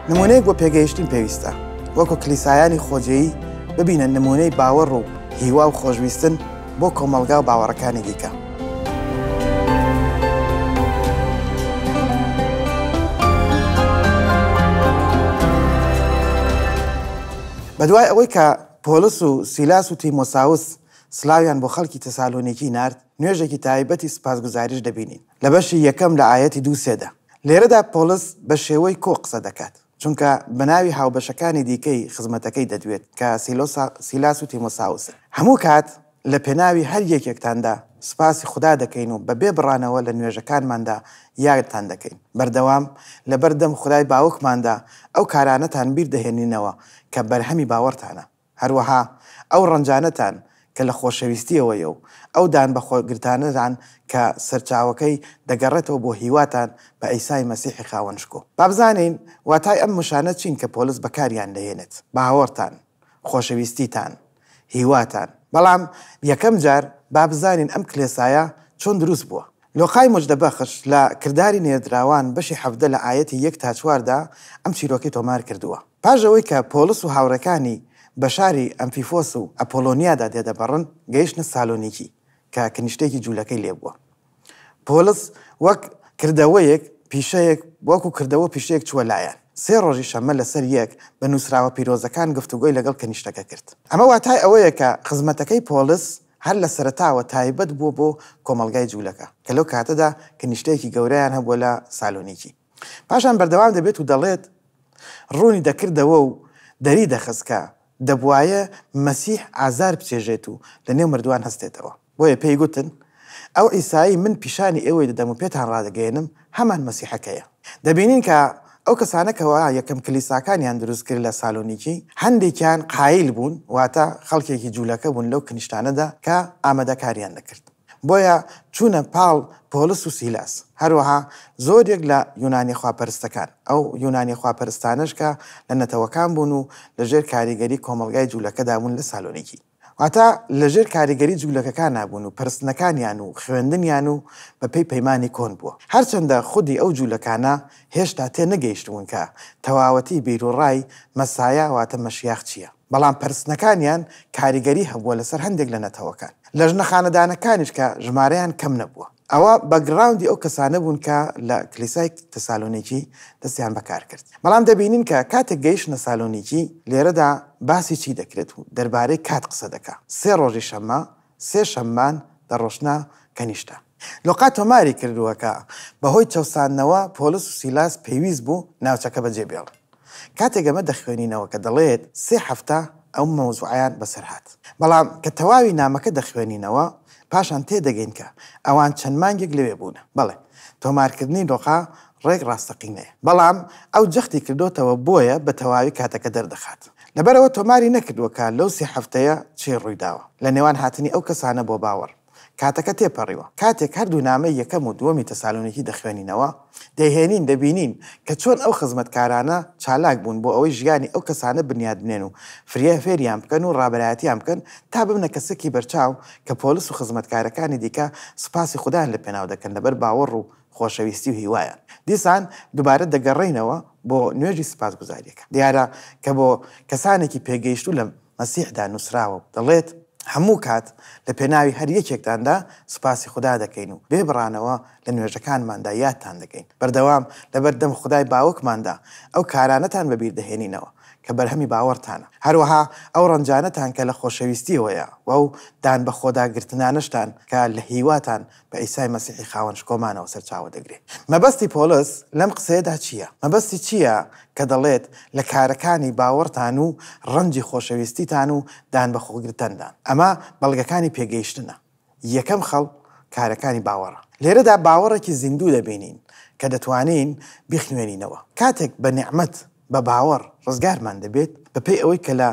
نمونەیەک بۆ پێگەیشتن پێویستە وەکو کلیسایانی خۆجێی ببینە نمونەی باوەڕ و هیوا و خۆشویستن بۆ کۆمەلگا و باوەڕەکانی دیکە. بەدوای ئەوەی کە پۆلس و سیلاس و تیمۆساوس سلاویان بۆ خەڵکی تەسالۆنیکی نارد، نوێژێکی تایبەتی سوپاسگوزاریش دەبینین لە بەشی یەکەم لە ئایەتی دوو سێدا. لێرەدا پۆڵس بە شێوەی کۆ قسە دەکات، چونکە بە ناوی هاوبەشەکانی دیکەی خزمەتەکەی دەدوێت، کە سیلۆسا، سیلاس و تیمۆساوسن. هەموو کات لە پێناوی هەر یەکێکتاندا سوپاسی خودا دەکەین و بەبێ بڕانەوە لە نوێژەکانماندا یادتان دەکەین. بەردەوام لەبەردەم خودای باوکماندا ئەو کارانەتان بیر دەهێنینەوە کە بەرهەمی باوەڕتانە. هەروەها ئەو ڕەنجانەتان کە لە خۆشەویستییەوە یە و ئەو دانبەخۆگرتانەتان کە سەرچاوەکەی دەگەڕێتەوە بۆ هیواتان بە عیسای مەسیحی خاوەن شکۆ. با بزانین واتای ئەم وشانە چین کە پۆلس بەکاریان دەهێنێت، باوەڕتان، خۆشەویستیتان، هیواتان. بەڵام یەکەم جار با بزانین ئەم کلێسایە چۆن دروست بووە. لۆقای مژدە بەخش لە، کرداری نێردراوان، بەشی حەڤدە لە ئایەتی یەک تا چوار دا ئەم چیرۆکەی تۆمار کردووە. پاش ئەوەی کە پۆڵس و هاوڕێکانی بە شاری ئەمفیفۆس و ئەپۆلۆنیادا دێدەبڕن، گەیشتنە سالۆنیکی کە کنیشتێکی جوولەکەی لێ بووە. پۆڵس وەک کردەوەیەک پیشەیەک وەکوو کردەوە و پیشەیەک چووە لایان. سێ ڕۆژی شەممە لە سەر یەک بە نووسراوە پیرۆزەکان گفتوگۆی لەگەڵ کنیشتەکە کرد. ئەمە واتای ئەوەیە کە خزمەتەکەی پۆڵس هەر لە سەرەتاوە تایبەت بووە بۆ کۆمەڵگای جوولەکە، کە لەو کاتەدا کنیشتەیەکی گەورەیان هەبووە لە سالۆنیکی. پاشان بەردەوام دەبێت و دەڵێت، ڕوونی دەکردەوە و دەری دەخست کە دەبوایە مەسیح ئازار بچێژێت و لەنێو مردووان هەستێتەوە، بۆیە پێی گوتن، ئەو عیسایەی من پیشانی ئێوەی دەدەم و پێتان ڕادەگەیەنم، هەمان مەسیحەکەیە. دەبینین کە ئەو کەسانە کەوا یەکەم کلیساکانیان دروست کرد لە سالۆنیکی، هەندێکیان قایل بوون، واتە خەڵکێکی جوولەکە بوون لەو کنیشتانەدا کە ئامادەکاریان دەکرد بۆیە چوونە پاڵ پۆلس و سیلاس، هەروەها زۆرێک لە یونانیە خواپەرستەکان، ئەو یونانیە خواپەرستانەش کە لە نەتەوەکان بوون و لەژێر کاریگەری کۆمەڵگای جوولەکەدا بوون لە سالۆنیکی. واتە لەژێر کاریگەری جوولەکەکانا بوون و پەرستنەکانیان و خوێندنیان و بەپێی پەیمانی کۆن بووە. هەرچەندە خودی ئەو جوولەکانە هێشتا تێ نەگەیشتبوون کە تەواوەتی بیروڕای مەسایە واتە مەشیاخ چییە، بەڵام پەرستنەکانیان کاریگەری هەبووە لەسەر هەندێک لە نەتەوەکان. لەژنە خانەدانەکانیش کە ژمارەیان کەم نەبووە. ئەوە باکگراوندی ئەو کەسانە بوون کە لە کلیسای تەسالۆنیکی دەستیان بە کار کرد. بەڵام دەبینین کە کاتێک گەیشتنە سالۆنیکی، لێرەدا باسی چی دەکرێت و دەربارەی کات قسە دەکا، سێ ڕۆژی شەممە، سێ شەممان دەڕۆشتنە کەنیشتە. لۆقا تۆماری کردووە کە بەهۆی چەوساندنەوە پۆلس و سیلاس پێویست بوو ناوچەکە بەجێ بێڵن. کاتێک ئەمە دەخوێنینەوە کە دەڵێت سێ هەفتە ئەم مەوزوعەیان بەسەر هات، بەڵام کە تەواوی نامەکە دەخوێنینەوە پاشان تێدەگەین کە ئەوان چەند مانگێک لەوێ بوونە. بەڵێ، تۆمارکردنی لقە ڕێک ڕاستەقینەیە، بەڵام ئەو جەختی کردۆتەوە بۆیە بە تەواوی کاتەکە دەردەخات. لەبەرئەوە تۆماری نەکردووە کە لەو سێ هەفتەیە چی ڕوویداوە لە نێوان هاتنی ئەو کەسانە بۆ باوەڕ. کاتەکە تێپەڕیوە. کاتێک هەردوو نامەی یەکەم و دووەمی تەسالۆنیکی دەخوێنینەوە، دەیهێنین، دەبینین کە چۆن ئەو خزمەتکارانە چالاک بوون بۆ ئەوەی ژیانی ئەو کەسانە بنیات بنێن و فرە فێریان بکەن و ڕابەرایەتیان بکەن تا ببنە کەسەکی بەرچاو کە پۆلس و خزمەتکارەکانی دیکە سوپاسی خودایان لەپێناو دەکەن لەبەر باوەڕ و خۆشەویستی و هیوایان. دیسان دوبارە دەگەڕێینەوە بۆ نوێژی سوپاسگوزاریەکە دیارە کە بۆ کەسانێکی پێگەیشتوو لە مەسیحدا نوسراوە و دەڵێت هەموو کات لە پێناوی هەر یەکێکتاندا سوپاسی خودا دەکەین و بێ بڕانەوە لە نوێژەکانماندا یادتان دەکەین بەردەوام لەبەر دەم خودای باوکماندا ئەو کارانەتان بەبیر دەهێنینەوە کە بەرهەمی باوەڕتانە هەروەها ئەو ڕەنجانەتان کە لە خۆشەویستیەوەیە و ئەو دان بەخۆدا گرتنانەشتان کە لە هیواتان بە عیسای مەسیحی خاوەن شکۆمانەوە سەرچاوە دەگرێت. مەبەستی پۆڵس لەم قسەیەدا چییە؟ مەبەستی چییە کە دەڵێت لە کارەکانی باوەڕتان و ڕەنجی خۆشەویستیتان و دانبەخۆگرتندان؟ ئەمە بەڵگەکانی پێگەیشتنە. یەکەم خەڵ کارەکانی باوەڕە. لێرەدا باوەڕێکی زیندوو دەبینین کە دەتوانین بیخوێنینەوە. کاتێک بە نیعمەت، بە باوەڕ، ڕزگارمان دەبێت، بەپێی ئەوەی کە لە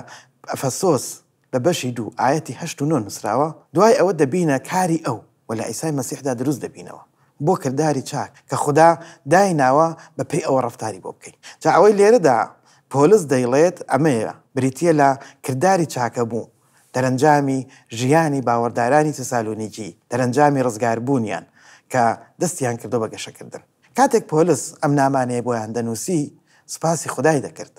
ئەفەسۆس، لە بەشی دوو ئایەتی هەشت و نۆ نووسراوە، دوای ئەوە دەبینە کاری ئەو و لە عیسای مەسیحدا دروست دەبینەوە بۆ کرداری چاک کە خودا دایناوە بە پێی ئەوە ڕەفتاری بۆ بکەین. جا ئەوەی لێرەدا پۆلس دەیڵێت ئەمەیە، بریتییە لە کرداری چاکەبوو، دەرەنجامی ژیانی باوەڕدارانی تسالونیکی، دەرەنجامی ڕزگاربوونیان کە دەستیان کردووە بە گەشەکردن. کاتێک پۆلس ئەم نامانەیە بۆیان دەنووسی سوپاسی خودای دەکرد.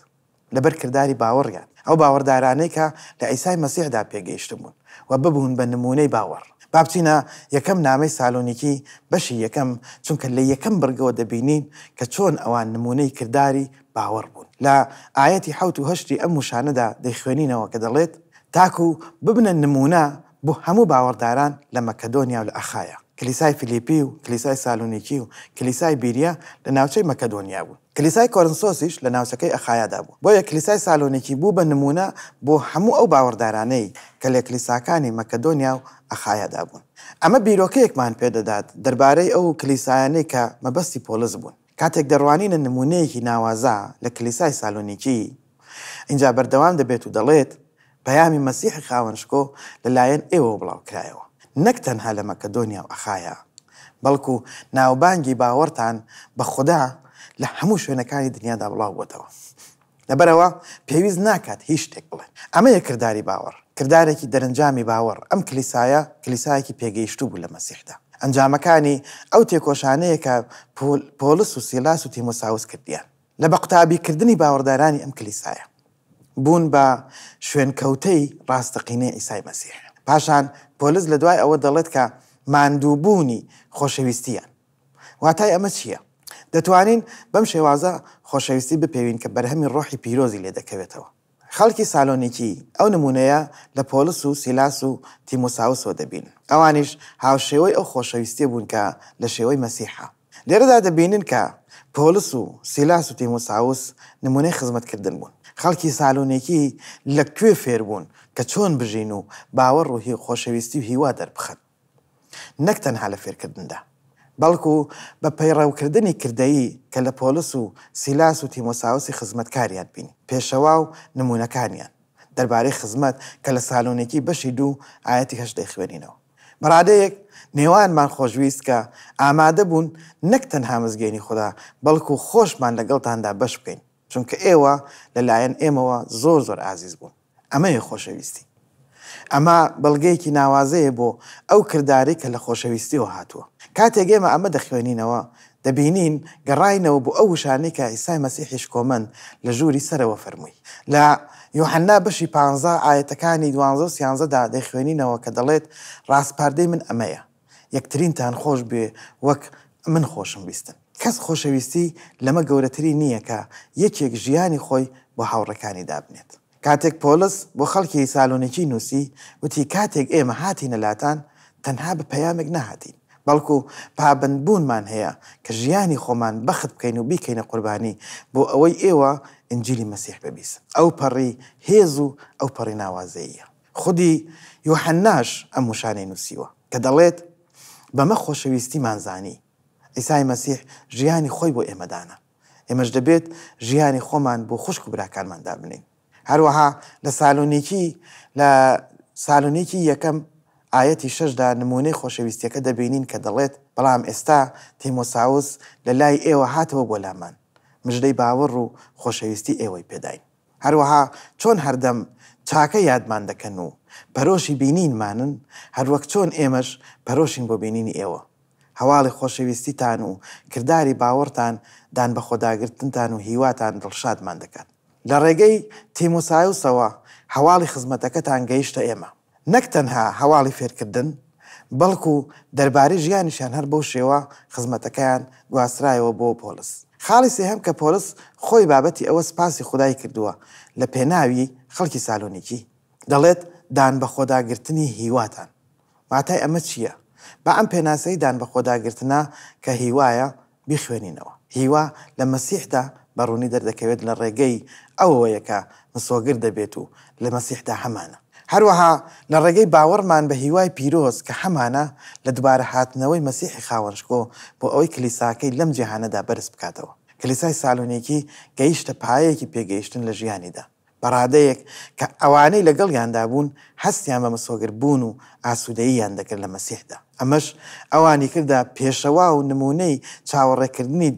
لەبەر کرداری باوەڕیان، ئەو باوەڕدارانەی کە لە عیسای مەسیحدا پێگەیشتبوون و ببوون بە نموونەی باوەڕ. با بچینە یەکەم نامەی سالۆنیکی بەشی یەکەم، چونکە لە یەکەم بڕگەوە دەبینین کە چۆن ئەوان نموونەی کرداری باوەڕ بوون. لە ئایەتی حەوت و هەشتی ئەم وشانەدا دەیخوێنینەوە کە دەڵێت، تاکو ببنە نموونە بۆ هەموو باوەڕداران لە مەکەدۆنیا و لە ئەخایا. کلیسای فلیپی و کلیسای سالۆنیکی و کلیسای بیریا لە ناوچەی مەکەدۆنیا بوون. کلیسای کۆرنسۆسیش لە ناوچەکەی ئەخایادا بوو، بۆیە کلیسای سالۆنیکی بوو بە نموونە بۆ هەموو ئەو باوەڕدارانەی کە لە کلیساکانی مەکەدۆنیا و ئەخایادا بوون. ئەمە بیرۆکەیەکمان پێ دەدات دەربارەی ئەو کلیسایانەی کە مەبەستی پۆلس بوون. کاتێک دەڕوانینە نموونەیەکی ناوازە لە کلیسای سالۆنیکی، ئینجا بەردەوام دەبێت و دەڵێت، پەیامی مەسیحی خاوەن شکۆ لە لایەن ئێوەوە بڵاو کرایەوە، نەک تەنها لە مەکەدۆنیا و ئەخایا، بەڵکو ناوبانگی باوەڕتان بە خودا لە هەموو شوێنەکانی دنیادا بڵاو بۆتەوە. لەبەرئەوە پێویست ناکات هیچ شتێک بڵێن. ئەمەیە کرداری باوەڕ، کردارێکی دەرنجامی باوەڕ. ئەم کلیسایە کلیسایەکی پێگەیشتوو بوو لە مەسیحدا. ئەنجامەکانی ئەو تێکۆشانەیە کە پۆل، پۆڵس و سیلاس و تیمۆساوس کردیان، لە بە قوتابیکردنی باوەڕدارانی ئەم کلیسایە. بوون بە شوێنکەوتەی ڕاستەقینەی عیسای مەسیح. پاشان پۆلس لە دوای ئەوە دەڵێت کە ماندووبوونی خۆشەویستییان. واتای ئەمە چییە؟ دەتوانین بەم شێوازە خۆشەویستی بپێوین کە بەرهەمی ڕۆحی پیرۆزی لێ دەکەوێتەوە. خەڵکی سالۆنیکی ئەو نموونەیە لە پۆلس و سیلاس و تیمۆساوسەوە دەبینن. ئەوانیش هاوشێوەی ئەو خۆشەویستییە بوون کە لە شێوەی مەسیحە. لێرەدا دەبینن کە پۆلس و سیلاس و تیمۆساوس نموونەی خزمەتکردن بوون. خەڵکی سالۆنیکی لە کوێ فێر بوون کە چۆن بژین و باوەڕ و خۆشەویستی و هیوا دەربخەن؟ نەک تەنها لە فێرکردندا، بەڵکو بە پەیڕەوکردنی کردەیی کە لە پۆلس و سیلاس و تیمۆساوسی خزمەتکاریان بینی، پێشەوا و نموونەکانیان، دەربارەی خزمەت کە لە سالۆنیکی بەشی دوو ئایەتی هەشت دەیخوێنینەوە. بەڕادەیەک نێوانمان خۆشویست کە ئامادەبوون نەک تەنها مزگێنی خودا بەڵکو خۆشمان لەگەڵتاندا بەش بکەین چونکە ئێوە لە لایەن ئێمەوە زۆر زۆر ئازیز بوون ئەمەیە خۆشەویستی ئەمە بەڵگەیەکی ناوازەیە بۆ ئەو کردارەی کە لە خۆشەویستیەوە هاتووە کاتێک ئێمە ئەمە دەخوێنینەوە دەبینین گەڕاینەوە بۆ ئەو وشانەی کە عیسای مەسیحی شکۆمەند لە ژووری سەرەوە فەرمووی. لە یوحەنا بەشی پانزە ئایەتەکانی دوانزە و سیانزە دا دەیخوێنینەوە کە دەڵێت، ڕاسپاردەی من ئەمەیە، یەکترینتان خۆش بوێ وەک من خۆشم ویستن. کەس خۆشەویستی لەمە گەورەتری نییە کە یەکێک ژیانی خۆی بۆ هاوڕێکانی دابنێت. کاتێک پۆڵس بۆ خەڵکی سالۆنیکی نووسی، وتی، کاتێک ئێمە هاتینە لاتان، تەنها بە پەیامێک نەهاتین، بەڵکو پابەندبوونمان هەیە کە ژیانی خۆمان بەخت بکەین و بیکەینە قوربانی بۆ ئەوەی ئێوە ئینجیلی مەسیح ببیسن. ئەوپەڕی هێز و ئەوپەڕی ناوازەییە! خودی یوحەنناش ئەم وشانەی نووسیوە، کە دەڵێت، بەمە خۆشەویستیمان زانی، عیسای مەسیح ژیانی خۆی بۆ ئێمە دانا. ئێمەش دەبێت ژیانی خۆمان بۆ خوشک و براکانمان دابنێین هەروەها لە سالۆنیکی لە سالۆنیکی یەکەم ئاەتی شەشدا نمونەی خۆشەویستیەکە دەبینین کە دەڵێت بەڵام ئێستا تیمۆساوس لە لای ئێوە هاتەوە بۆ لامان مژدەی باوەڕ و خۆشەویستی ئێوەی پێداین هەروەها چۆن هەردەم چاکە یادمان دەکەن و پەرۆشی بینینمانن هەروەک چۆن ئێمەش پەرۆشین بۆ بینینی ئێوە هەواڵی خۆشەویستیتان و کرداری باوەڕتان، دانبەخۆداگرتنتان و هیواتان دڵشادمان دەکات. لە ڕێگەی تیمۆسایۆسەوە هەواڵی خزمەتەکەتان گەیشتە ئێمە. نەک تەنها هەواڵی فێرکردن، بەڵکو دەربارەی ژیانیشیان هەر بەو شێوە خزمەتەکەیان گواسترایەوە بۆ پۆلس. خاڵی سێهەم کە پۆلس خۆی بابەتی ئەوە سپاسی خودای کردووە لە پێناوی خەڵکی سالۆنیکی، دەڵێت، دانبەخۆداگرتنی هیواتان. واتای ئەمە چییە؟ با ئەم پێناسەی دانبەخۆداگرتنە کە هیوایە بیخوێنینەوە. هیوا لە مەسیحدا بە ڕوونی دەردەکەوێت لە ڕێگەی ئەوەوەیە کە مسۆگەر دەبێت و لە مەسیحدا هەمانە. هەروەها لە ڕێگەی باوەڕمان بە هیوای پیرۆز کە هەمانە لە دوبارە هاتنەوەی مەسیحی خاوەن شکۆ بۆ ئەوەی کلیساکەی لەم جیهانەدا بەرز بکاتەوە. کلیسای سالۆنیکی گەیشتە پایەیەکی پێگەیشتن لە ژیانیدا. بەڕادەیەک کە ئەوانەی لەگەڵیاندا بوون هەستیان بە مسۆگەر بوون و ئاسوودەییان دەکرد لە مەسیحدا، ئەمەش ئەوانی کردە پێشەوا و نموونەی چاوەڕێکردنی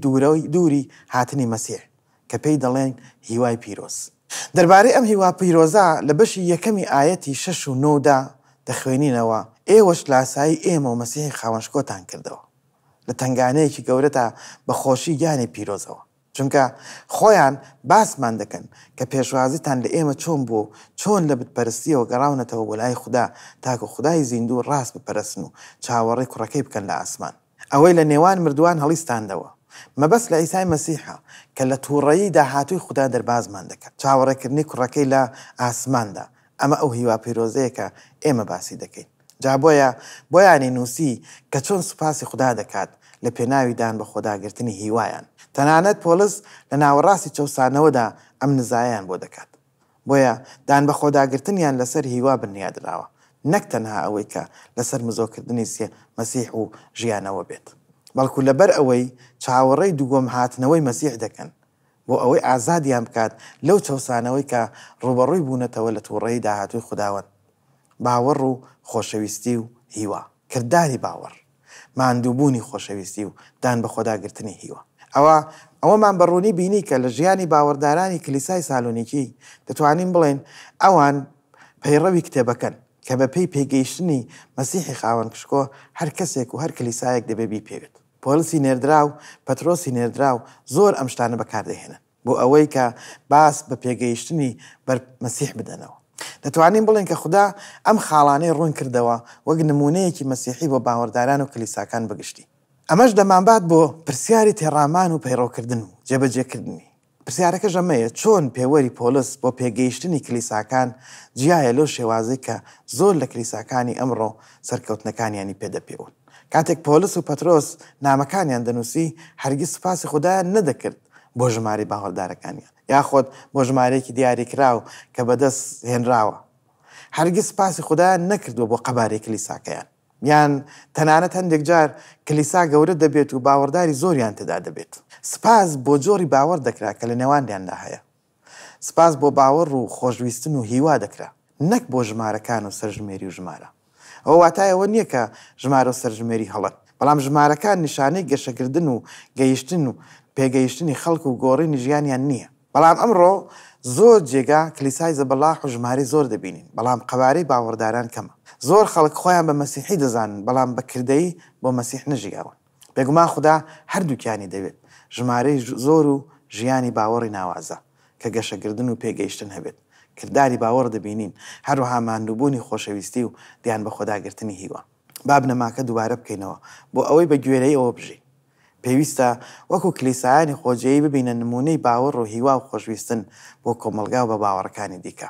دووری هاتنی مەسیح، کە پێی دەڵێن هیوای پیرۆز. دەربارەی ئەم هیوا پیرۆزە لە بەشی یەکەمی ئایەتی شەش و نۆدا دەخوێنینەوە، ئێوەش لاسایی ئێمە و مەسیحی خاوەن شکۆتان کردەوە، لە تەنگانەیەکی گەورەدا بە خۆشی گیانی پیرۆزەوە. چونکە خۆیان باسمان دەکەن کە پێشوازیتان لە ئێمە چۆن بووە و چۆن لە بتپەرستییەوە گەڕاونەتەوە بۆ لای خودا تاکو خودای زیندوو و ڕاست بپەرستن و چاوەڕێی کوڕەکەی بکەن لە ئاسمان ئەوەی لە نێوان مردووان هەڵیستاندەوە مەبەست لە عیسای مەسیحە کە لە تووڕەیی داهاتووی خودا دەربازمان دەکات چاوەڕێکردنی کوڕەکەی لە ئاسماندا ئەمە ئەو هیوا پیرۆزەیە کە ئێمە باسی دەکەین. جا بۆیە بۆیانی نووسی کە چۆن سوپاسی خودا دەکات لە پێناوی دان بە خۆداگرتنی هیوایان، تەنانەت پۆلس لە ناوەڕاستی چەوسانەوەدا ئەم نزایەیان بۆ دەکات. بۆیە دان بە خۆداگرتنیان لەسەر هیوا بنیا دراوە، نەک تەنها ئەوەی کە لەسەر مزۆکردنی سێ مەسیح و ژیانەوە بێت، بەڵکو لەبەر ئەوەی چاوەڕێی دووەم هاتنەوەی مەسیح دەکەن، بۆ ئەوەی ئازادیان بکات لەو چەوسانەوەی کە ڕووبەڕووی بوونەتەوە لە تووڕەیی داهاتووی خوداوەند. باوەڕ و خۆشەویستی و هیوا. کرداری باوەڕ، ماندووبوونی خۆشەویستی و دان بە خۆدا گرتنی هیوا. ئەوا ئەوەمان بە ڕوونی بینی کە لە ژیانی باوەڕدارانی کلیسای سالونیکی دەتوانین بڵێین ئەوان پەیڕەوی کتێبەکەن کە بە پێی پێگەیشتنی مەسیحی خاوەن پشکۆ هەر کەسێک و هەر کلیسایەک دەبێ بیپێوێت. پۆلسی نێردراو، پەترۆسی نێردراو، زۆر ئەم شتانە بەکار دەهێنن بۆ ئەوەی کە باس بە پێگەیشتنی بەر مەسیح بدەنەوە. دەتوانین بڵێین کە خودا ئەم خاڵانەی ڕوون کردەوە وەک نموونەیەکی مەسیحی بۆ باوەڕداران و کلیساکان بەگشتی. ئەمەش دەمانبات بۆ پرسیاری تێڕامان و پەیڕەوکردن و جێبەجێکردنی. پرسیارەکەش ئەمەیە چۆن پێوەری پۆلس بۆ پێگەیشتنی کلیساکان جیایە لەو شێوازەی کە زۆر لە کلیساکانی ئەمڕۆ سەرکەوتنەکانیانی پێ دەپێون؟ کاتێک پۆلس و پەترۆس نامەکانیان دەنووسی هەرگیز سوپاسی خودایان نەدەکرد بۆ ژمارەی باوەڕدارەکانیان یاخۆد بۆ ژمارەیەکی دیاریکراو کە بەدەست هێنراوە هەرگیز سوپاسی خودایان نەکردووە بۆ قەبارەی کلیساکەیان. یان تەنانەت هەندێک جار کلیسا گەورە دەبێت و باوەڕداری زۆریان تێدا دەبێت. سپاس بۆ جۆری باوەڕ دەکرا کە لە نێوانیاندا هەیە. سپاس بۆ باوەڕ و خۆشویستن و هیوا دەکرا، نەک بۆ ژمارەکان و سەرژمێری و ژمارە. ئەوە واتای ئەوە نییە کە ژمارە و سەرژمێری هەڵەن، بەڵام ژمارەکان نیشانەی گەشەکردن و گەیشتن و پێگەیشتنی خەڵک و گۆڕینی ژیانیان نییە. بەڵام ئەمڕۆ زۆر جێگا کلیسای زەبەلاح و ژمارەی زۆر دەبینین، بەڵام قەوارەی باوەڕداران کەمە. زۆر خەڵک خۆیان بە مەسیحی دەزانن، بەڵام بە کردەیی بۆ مەسیح نەژیاون. بێگومان خودا هەردووکیانی دەوێت، ژمارەی زۆر و ژیانی باوەڕی ناوازە، کە گەشەکردن و پێگەیشتن هەبێت. کرداری باوەڕ دەبینین، هەروەها ماندووبوونی خۆشەویستی و دیان بەخۆداگرتنی هیوا. با بنەماکە دووبارە بکەینەوە بۆ ئەوەی بە گوێرەیەوە بژین. پێویستە وەکو کلیسایانی خۆجێیی ببینە نموونەی باوەڕ و هیوا و خۆشویستن بۆ کۆمەڵگا و بە باوەڕەکانی دیکە.